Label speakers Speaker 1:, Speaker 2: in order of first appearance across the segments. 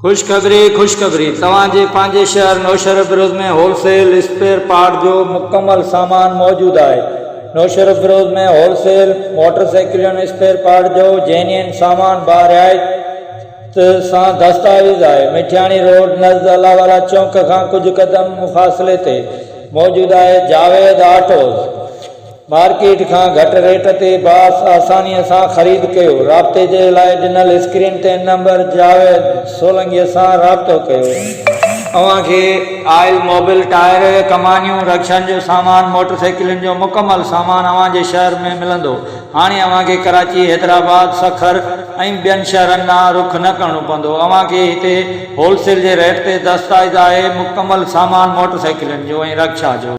Speaker 1: خوشخبري خوشخبري توهان جي پنهنجي شهر Naushahro Feroze ۾ wholesale spare part جو مڪمل سامان موجود آهي نوشهربروز ۾ هول سيل موٽر سائيڪلن اسپيئر پارٽ جو جينين سامان با رعايت سان دستاويز آهي مٺياڻي روڊ نزد الله والا چونڪ کان ڪجهه قدم فاصلي تي موجود آهي جاويد آٽوز مارڪيٽ کان گهٽ ريٽ تي باس آسانيء سان خريد ڪيو. رابطي جي لاء ڏنل اسڪرين تي نمبر جاويد سولنگيء سان رابطو ڪيو. اوهان کي آئل، موبل، ٽائر، ڪمانيون، رڪشن جو سامان، موٽرسائيڪلن جو مڪمل سامان اوهان جي شهر ۾ ملندو. هاڻي اوهان کي ڪراچي، حيدرآباد، سکر ۽ ٻين شهرن ڏانهن رخ نه ڪرڻو پوندو. اوهان کي هتي هول سيل جي ريٽ تي دستايزآهي مڪمل سامان موٽرسائيڪلن جو ۽ رڪشا جو.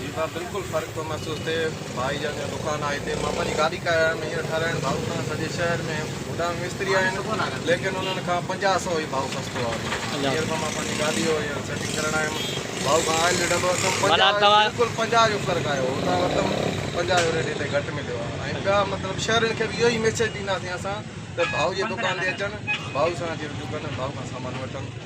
Speaker 1: جي ڀا بلڪل
Speaker 2: فرق پيو محسوس ٿئي ڀائي جان جو دڪان آهي هتي مان پنهنجي گاڏي ڪاهي آيم هينئر ٺهرائڻ ڀائو کان سڄي شهر ۾ هوڏانهن به مستري آهن ليڪن انهن کان پنجاهه سئو ئي ڀائو سستو آهي هينئر به مان پنهنجي گاڏي جو هينئر سيٽنگ ڪرڻ آيم ڀائو کان آئل ريڊ هلو اٿم پنجاهه جو بلڪل پنجاهه جو فرق آيو هتان ورتم پنجاهه جو ريڊ هتي گهٽ مليو آهي ۽ ٻيا مطلب شهرين کي به اهو ئي ميسيج ڏينداسين اسان ته ڀائو جي دڪان تي اچن ڀائو سان اچي رجوع ڪن ڀائو کان سامان وٺن